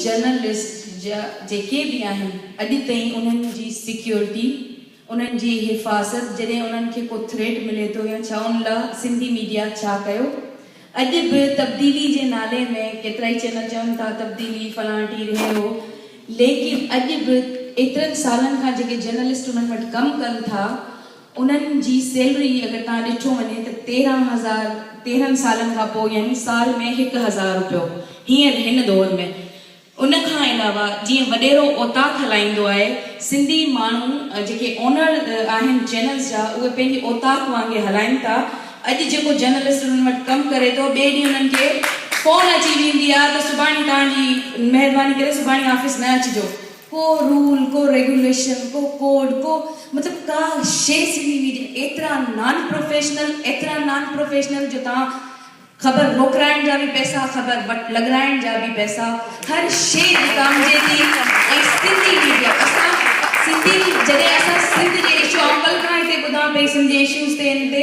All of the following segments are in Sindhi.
جرنلسٽ جا جيڪي به آهن اڄ تائين انهن جي سيڪيورٽي انهن جي حفاظت جڏهن انهن کي ڪو ٿريٽ ملي ٿو يا ڇا ان لا سنڌي ميڊيا ڇا ڪيو اڄ به تبديلي جي نالي ۾ ڪيترائي چينل چون ٿا تبديلي فلان ٽي رهيو ليڪن اڄ به ايترن سالن کان جيڪي جرنلسٽ انهن وٽ ڪم ڪن ٿا انهن جي سيلري اگر تان ڏٺو وڃي ته تيرهن هزار تيرهن سالن کان پوء يعني سال ۾ هڪ هزار روپيو هينئر هن دور ۾. ان کان علاوه جيئن وڏيرو اوطاق هلائيندو آهي سنڌي ماڻهو جيڪي اونر آهن چينلز جا اهي پنهنجي اوطاق وانگي هلائين ٿا اڄ جيڪو جرنلسٽ انهن وٽ ڪم ڪري ٿو ٻئي ڏينهن انهن کي فون اچي ويندي آهي ته سڀاڻي توهان جي مهرباني ڪري سڀاڻي آفيس نه اچجو ڪو رول، ڪو ريگوليشن، ڪو ڪوڊ، ڪو مطلب ڪا شيء سنڌي ميڊيا ايترا نان پروفيشنل، ايترا نان پروفيشنل جو تان خبر روڪرائڻ جا به پئسا، خبر وٽ لڳرائڻ جا به پئسا، هر شيء وڪامجي ٿي ۽ سنڌي ميڊيا اسان سنڌي جڏهن اسان سنڌ جي اشو آئون ڪلهه کان هتي ٻڌان پئي سنڌ جي اشوز تي ان تي،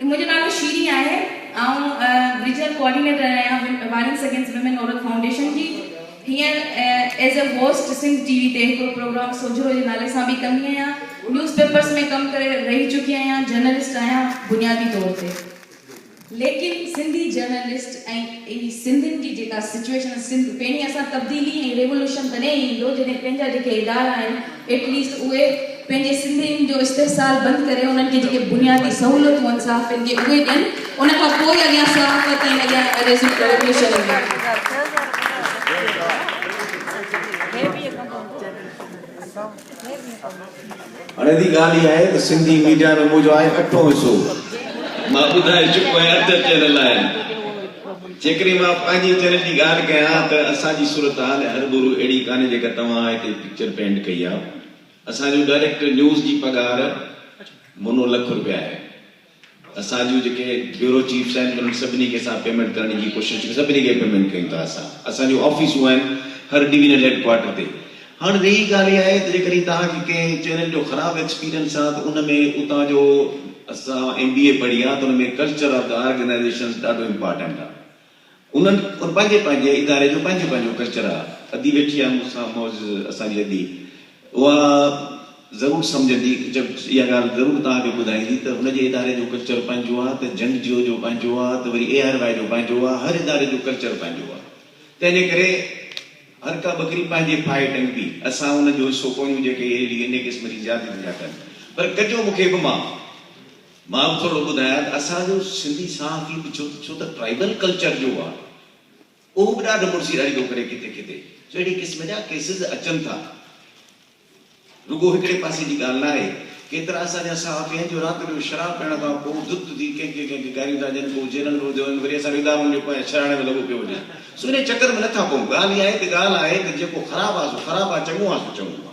منهنجو نالو شيرين آهي. آئون ريجنل ڪوآرڊينيٽر آهيان وائلنس اگينسٽ ويمن عورت فائونڊيشن جي. هينئر as a host Sindh T V تي هڪڙو پروگرام سوجهرو جي نالي سان به ڪندي آهيان. نيوز پيپرز ۾ ڪم ڪري رهي چڪي آهيان. جرنلسٽ آهيان بنيادي طور تي. ليڪن سنڌي جرنلسٽ ۽ اي سنڌين جي جيڪا سچوئيشن سنڌ پيڻي اسان تبديلي ۽ ريولوشن تڏهن ئي ايندو جڏهن پنهنجا جيڪي ادارا آهن. ايٽ ليسٽ اهي پنهنجي سنڌين جو استحصال بند ڪري انهن کي جيڪي بنيادي سهولتون آهن صحافين کي اهي ڏين ان کان پوء اڳيان صحافت ۽ اڳيان ايريزم جو ايڊميشن اڻيري ڳالهه اها آهي ته سنڌي ميڊيا رڳو جو آهي اٺون حصو مان ٻڌائي چڪو آهيان اڌ اچڻ لاء. جيڪڏهن مان پنهنجي چينل جي ڳالهه ڪيان ته اسان جي صورتحال ۽ هربورو اهڙي ڪانهي جيڪا توهان هتي پڪچر پينٽ ڪئي آ. اسان جو ڊائريڪٽر نيوز جي پگهار منو لک روپيا آهي. اسان جون جيڪي بيورو چيفس آهن انهن سڀني کي اسان پيمينٽ ڪرڻ جي ڪوشش سڀني کي پيمينٽ ڪيون ٿا اسان. اسان جون آفيسون آهن هر ڊويزنل هيڊ ڪوارٽر تي. هاڻ ويهي ڳالهه اها آهي ته جيڪڏهن توهان کي ڪنهن چينل جو خراب ايڪسپيرينس آهي ته ان ۾ اتان جو اسان ايم بي اي پڙهي آهي ته ان ۾ ڪلچر آف دي آرگنائيزيشنز ڏاڍو امپارٽينٽ آهي انهن ان پنهنجي پنهنجي اداري جو پنهنجو پنهنجو ڪلچر آهي ادي ويٺي آهي مون سان معزز اسان جي ادي اها ضرور سمجهندي اها ڳالهه ضرور توهان کي ٻڌائيندي ته هن جي اداري جو ڪلچر پنهنجو آهي ته جنگ جيو جو پنهنجو آهي ته وري اي آر واء جو پنهنجو آهي هر اداري جو ڪلچر پنهنجو آهي تنهنجي ڪري هر ڪا ٻڪري پنهنجي ڦاهي ٽنگبي، اسان ان جو حصو ڪونهيون جيڪي اهي لي انهي قسم جي زيادتين ٿا ڪن. پر ڪجو مون کي به معاف. مان به ٿورڙو ٻڌايان ته اسان جو سنڌي صحافي به ڇو ڇو ته ٽرائبل ڪلچر جو آ اهو به ڏاڍو مڙسي اڙي ٿو ڪري ڪٿي ڪٿي جو اهڙي قسم جا ڪيسز اچن ٿا. رڳو هڪڙي پاسي جي ڳالهه ناهي، ڪيترا اسان جا صحافي آهن جو رات جو شراب پيئڻ کان پوء دت ٿي ڪنهن کي ڪنهن کي گاريون ٿا ڏين، پوء جيلن ۾ وڌو وڃن، وري اسان ادارن جي پويان شهراڻي ۾ لڳو پيو وڃان، سو انهيء چڪر ۾ نه ٿا پئون، ڳالهه اها آهي ته ڳالهه آهي ته جيڪو خراب آهي سو خراب آهي، چڱو آهي سو چڱو آهي.